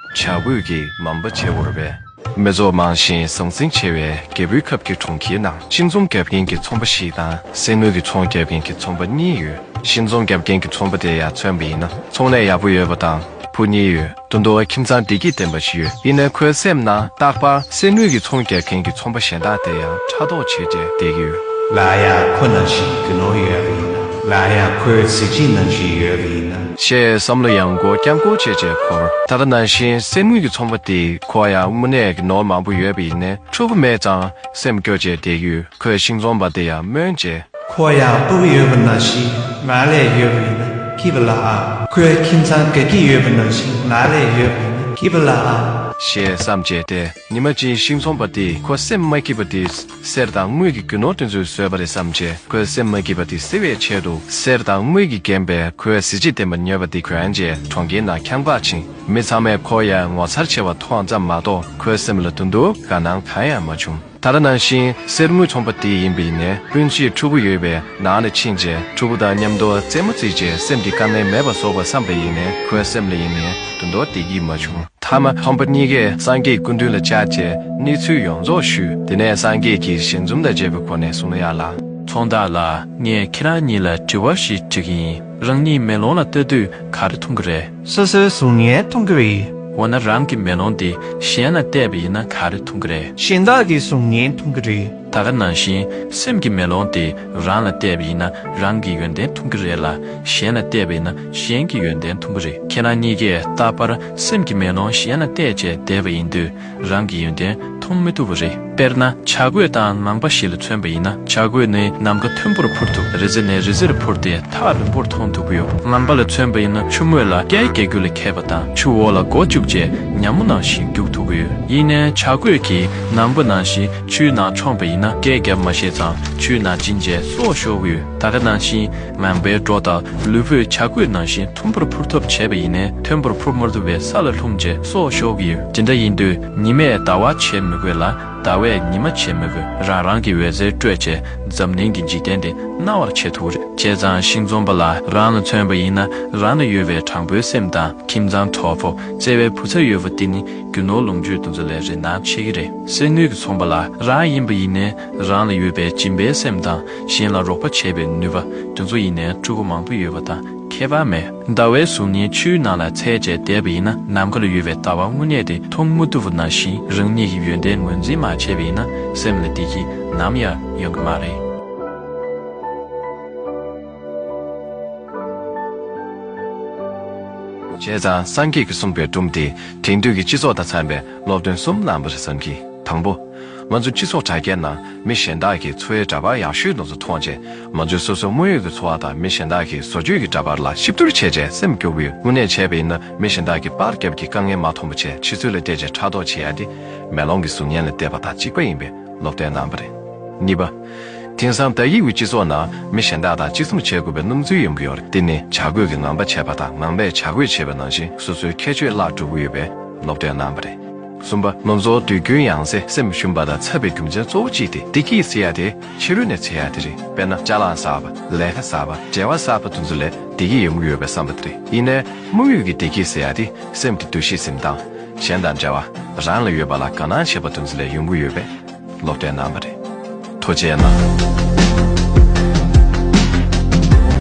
བྱ་རྒོད་ཀྱིས་མམ་པ་བྱེད་འོར་བས། མི་ཚོགས་མང་ཞིང་ཟང་ཟིང་ཆེ་བའི་རྒྱལ་པོའི་ཁབ་ཀྱི་གྲོང་ཁྱེར་ནང་གཤིན་རྫོང་རྒྱབ་རྒན་གྱི་ཚོང་པ་ཞིག་དང་སེན་མོ་གྱི་ཚོང་རྒྱབ་རྒན་གྱི་ཚོང་པ་གཉིས་ཡོད། གཤིན་རྫོང་རྒྱབ་རྒན་གྱི་ཚོང་པ་དེ་ཡར་མཚོན་པ་ཡིན་ན་ཚོང་ལས་ཡག་པོ་ཡོད་པ་དང་བུ་གཉིས་ཡོད་དོ་མདོ་བ་ཁྱིམ་ཚང་བདེ་སྐྱིད་ལྡན་པ་ཞིག་ཡོད་ཡིན་ནའི་ཁོའི་སེམས་ནང་རྟག་པར་སེན་མོ་གྱི་ཚོང་རྒྱབ་རྒན་གྱི་ཚོང་པ་གཞན་དག་དེ་ཡང་ཕྲག་དོག་བྱེད་དེ་བསྡད་ཀྱི་ཡོད། སླར་ཡང་ཁོ་ནང་བཞིན་རྒྱུ་ནོར་ཡོད་པ་ཡིན་ན་སླར་ཡང་ཁོའི་གཟི་བརྗིད་ནང་བཞིན་ཡོད་པ་ཡིན་ན། ཞེས་བསམ་བློ་ཡང་སྒོ་རྐྱང་སྐོར་བྱས་རྗེས་འཁོར་ད་ལྟ་ནང་བཞིན་གསེར་དངུལ་གྱི་ཚོང་པ་དེ་ཁོ་ཡང་དངོས་གནས་ཀྱི་ནོར་མང་པོ་ཡོད་པ་ཡིན་ནས་ཕྲུ་གུ་མེད་ཙང་སེམས་སྐྱོ་བྱས་དེ་ཡུལ་ཁོའི་ཤིང་རྫོང་པ་དེ་ཡང་སྨོན་བཅས། ཁོ་ཡང་སྤུ་གི་ཡོད་པ་ནང་བཞིན་ང་ལས་ཡོད་པ་ཡིན་ན་སྐྱིད་པ་ལ་ཨང། ཁོའི་ཁྱིམ་ཚང་དགའ་སྐྱིད་ཡོད་པ་ནང་བཞིན་ང་ལས་ཡོད་པ་ཡིན་ན་སྐྱིད་པ་ལ་ཨང། ཞེས་བསམ་བྱས་དེ་ཉི་མ་གཅིག་ཤིང་རྫོང་པ་དེས་ཁོ་སེམས་མ་སྐྱིད་པ་དེ། གསེར་དང་དངུལ་གྱི་རྒྱུ་ནོར་དེ་ཚོས་བཟོས་པ་རེད་བསམ་ཆེ་ཁོའི་སེམས་མ་སྐྱིད་པ་དེ་སེལ་བའི་ཆེད་དུ་གསེར་དང་དངུལ་གྱིས་བརྒྱན་པའི་ཁོའི་གཟི་བརྗིད་ལྡན་པ་ཉོས་པ་དེ་གྱོན་རྗེས་གྲོང་ཁྱེར་ནང་ཁྱམས་བཀག་ཕྱིན། མི་ཚང་མས་ཁོ་ཡར་ངོ་མཚར་ཆེ་བ་མཐོང་ཙམ་མ་གཏོགས་ཁོའི་སེམས་ལ་དུ་འདུག་དགའ་སྣང་གང་ཡང་མ་བྱུང། ད་ལྟ་ནང་བཞིན་གསེར་དངུལ་ཚོང་པ་དེ་ཡིན་པའི་ནས་སྤུན་གཅིག་ཕྲུ་གུ་ཡོད་པའི་ནང་ལ་ཕྱིན་རྗེས་ཕྲུ་གུ་དང་མཉམ་མདོ་རྩེད་མོ་རྩིས་རྗེས་སེམས་ཀྱི་དཀའ་ངལ་མེད་པར་སོག་པར་བསམ་པ་ཡིན་ནས་ཁོའི་སེམས་ལ་ཡེ་ནས་དུ་མདོ་སྡེ་གྱིས་མ་བྱུང། མཐའ་མ་ཕམ་པ་གཉིས་ཀས་སངས་རྒྱས་སྐུ་མདུན་ལ་བཅར་རྗེས་གནས་ཚུལ་ཡོངས་རྫོགས་ཞུས་དེ་ནས་སངས་རྒྱས་ཀྱིས་ཞལ་འཛུམ་དང་བཅས་པའི་སྒོ་ནས་གསུང་ཡག་ལ། ཚོང་བདག་ལགས་ངས་ཁྱེད་རང་གཉིས་ལ་དྲི་བ་ཞིག་དྲི་གི་ཡིན་རང་གཉིས་མེ་ལོང་ལ་ལྟོས་དུས་ག་རེ་མཐོང་གི་རེད། སོ་སོའི་གཟུགས་བརྙན་མཐོང་གི་རེད། འོ་ན་རང་གི་མེ་ལོང་དེ་གཞན་ལ་བལྟས་པ་ཡིན་ན་ག་རེ་མཐོང་གི་རེད། གཞན་དག་གི་གཟུགས་བརྙན་མཐོང་གི་རེད། ད་ག་ནང་བཞིན་སེམས་ཀྱི་མེ་ལོང་དེ་རང་ལ་གཏད་པ་ཡིན་ན་རང་གི་ཡོན་ཏན་འཐུང་གི་རེད་ལ་གཞན་ལ་གཏད་པ་ཡིན་ན་གཞན་གྱི་ཡོན་ཏན་འཐུང་གི་རེད་ཁྱེད་རང་གཉིས་ཀས་ད་བར་སེམས་ཀྱི་མེ་ལོང་གཞན་ལ་གཏད་བཅས་བསྡད་པ་ཡིན་དུས་རང་གི་ཡོན་ཏན་འཐུང་མི་ཐུབ་པ་རེད་དཔེར་ན་བྱ་རྒོད་དང་ནང་པ་ཞིག་ལ་མཚོན་པ་ཡིན་ན་བྱ་རྒོད་ནི་ནམ་མཁའ་མཐོན་པོར་འཕུར་ཐུབ་རི་རྩེ་ནས་རི་རྩེར་འཕུར་ཏེ་ཐག་རིང་པོར་མཐོང་ཐུབ་ཀྱི་ཡོད། ནང་པ་ལ་མཚོན་པ་ཡིན་ན་ཆུ་མོད་ལ་རྐྱལ་རྐྱལ་རྒྱུག་ལ་ཁད་པ་དང་ཆུ་འོག་ལ་མགོ་བཅུག་བཅས་ཉམས་མོ་ནང་བཞིན་རྒྱུག་ཐུབ་ཀྱི་ཡོད་ཡིན་ནའི་བྱ་རྒོད་ཀྱིས་ནང་པ་ནང་བཞིན་ཆུའི་ནང་མཆོངས་པ་ཡིན་ན་སྐད་བརྒྱབ་མ་ཤེས་ཙང་ཆུའི་ནང་ཕྱིན་རྗེས་སྲོག་ཤོར་བས་ད་ག་ནང་བཞིན་ངང་པའི་སྒྲོ་དང་ལུས་པོས་བྱ་རྒོད་ནང་བཞིན་མཐོན་པོར་འཕུར་ཐབས་བྱས་པ་ཡིན་ནས་མཐོན་པོར་འཕུར་མ་ཐུབ་པས་ས་ལ་ལྷུང་རྗེས་སྲོག་ཤོར་གྱི་ཡོད། དེ་འདྲ་ཡིན་དུས་ཉི་མས་ཟླ་བ་བྱེད་མི་དགོས་ལ་ཟླ་བས་ཉི་མ་བྱེད་མི་དགོས་རང་རང་གི་འོད་ཟེར་སྤྲོས་བཅས་འཛམ་གླིང་གི་འཇིག་རྟེན་འདི་སྣང་བར་བྱེད་ཐུབ་རེད། བྱས་ཙང་ཤིང་འཛོམས་པ་ལ་རང་ལ་མཚོན་པ་ཡིན་ན་རང་ལ་ཡོད་པའི་དྲང་པོའི་སེམས་དང་ཁྱིམ་ཚང་གྲོགས་པོ་བརྩེ་བའི་བུ་ཚ་ཡོད་པོ་འདི་ནི་རྒྱུ་ནོར་ལོངས་སྤྱོད་འདུ་འཛོ་ལས་རེ་ན་ཆེ་གི་རེད། གསེར་དངུལ་གྱི་ཚོང་པ་ལ་རང་ཡིན་པ་ཡིན་ནས་རང་ལ་ཡོད་པའི་སྦྱིན་པའི་སེམས་དང་གཞན་ལ་རོགས་པ་བྱེད་པའི་ནུས་པ་དེ་ཚོ་ཡིན་ནས་ཕྲུ་གུ་མང་པོ་ཡོད་པ་དང་ཁྱད་པར་མེད། ཟླ་བའི་གཟུགས་བརྙན་ཆུའི་ནང་ལ་ཚད་བཅད་བསྡད་པ་ཡིན་ན་ནམ་མཁའ་ལ་ཡོད་པའི་ཟླ་བ་དངོས་གནས་དེ་མཐོང་མ་ཐུབ་པ་ནང་བཞིན་རང་ཉིད་ཀྱི་ཡོན་ཏན་ངོས་འཛིན་མ་བྱས་པ་ཡིན་ན་སེམས་ལ་བདེ་སྐྱིད་ནམ་ཡང་ཡོང་གི་མ་རེད། བྱས་ཙང་སངས་རྒྱས་ཀྱིས་གསུངས་པའི་སྒྲུང་དེ་དེང་དུས་ཀྱི་སྤྱི་ཚོགས་དང་འཚམས་པའི་སློབ་སྟོན་གསུམ་བླངས་པ་རེད་བསམ་གི། དང་པོ། ང་ཚོ་སྤྱི་ཚོགས་དྲ་རྒྱའི་ནང་མི་གཞན་དག་གི་འཚོ་བའི་འདྲ་པར་ཡག་ཤོས་དུ་མཐོང་རྗེས་ང་ཚོས་སོ་སོའི་དངོས་ཡོད་ཀྱི་འཚོ་བ་དང་མི་གཞན་དག་གི་བཟོ་བཅོས་ཀྱི་འདྲ་པར་ལ་གཤིབ་བསྡུར་བྱས་རྗེས་སེམས་སྐྱོ་བོས་དངོས་གནས་བྱས་པ་ཡིན་ན་མི་གཞན་དག་གིས་པར་རྒྱབ་ཀྱི་དཀའ་ངལ་མ་མཐོང་པ་ཆེས་ཕྱི་ཚུལ་ལ་བལྟས་རྗེས་ཕྲག་དོག་བྱེད་ཡ་དེ། མེ་ལོང་གི་གཟུགས་བརྙན་ལ་བལྟས་པ་དང་གཅིག་པ་ཡིན་པས། སློབ་གྲྭའི་རྣམ་པ་རེད། གཉིས་པ། དེང་སང་དག་ཡིག་གི་སྤྱི་ཚོགས་ནང་མི་གཞན་དག་དང་གཅིག་མཚུངས་བྱེད་དགོས་པའི་སྣུམ་ཚུལ་ཡོང་གི་ཡོད་རེད་དེ་ནི་བྱ་དགོས་ཀྱི་ངང་པ་བྱས་པ་དང་ངང་པས་བྱ་དགོས་བྱས་པའི་ནང་བཞིན་སོ་སོའི་ཁྱད་ཆོས་བརླག་གྲུབ་ཀྱི་ཡོད་པས་སློབ་གྲྭའི་རྣམ་པ་རེད། གསུམ་པ། ལོ་ཚོགས་དུས་རྒྱུན་ཡང་ཟེ་སེམས་ཞུམ་པ་དང་འཚབ་པའི་རྒྱུ་མཚན་གཙོ་བོ་གཅིག་དེ་བདེ་སྐྱིད་ཟེར་ཡ་དེ་ཕྱི་རོལ་ནས་འཚེར་ཡ་དེ་རེད་དཔེར་ན་ལྕགས་ལམ་གསར་པ་ལས་ཀ་གསར་པ་བྲེལ་བ་གསར་པ་དུ་ཚོད་ལས་བདེ་སྐྱིད་ཡོང་གི་ཡོད་པའི་བསམ་པ་དེ་རེད་ཡིན་ནའི་དམིགས་ཡུལ་གྱི་བདེ་སྐྱིད་ཟེར་ཡ་དེ་སེམས་ཀྱི་འདུ་ཤེས་སེམས་གཏམ། གཞན་དང་འབྲེལ་བ་རང་ལ་ཡོད་པ་ལ་དགའ་སྣང་བྱེད་པ་དུམ་ཚིགས་ལས་ཡོང་གི་ཡོད་པས་བློ་བདེ་གནང་བ་རེད། ཐོ་བཅད་ན།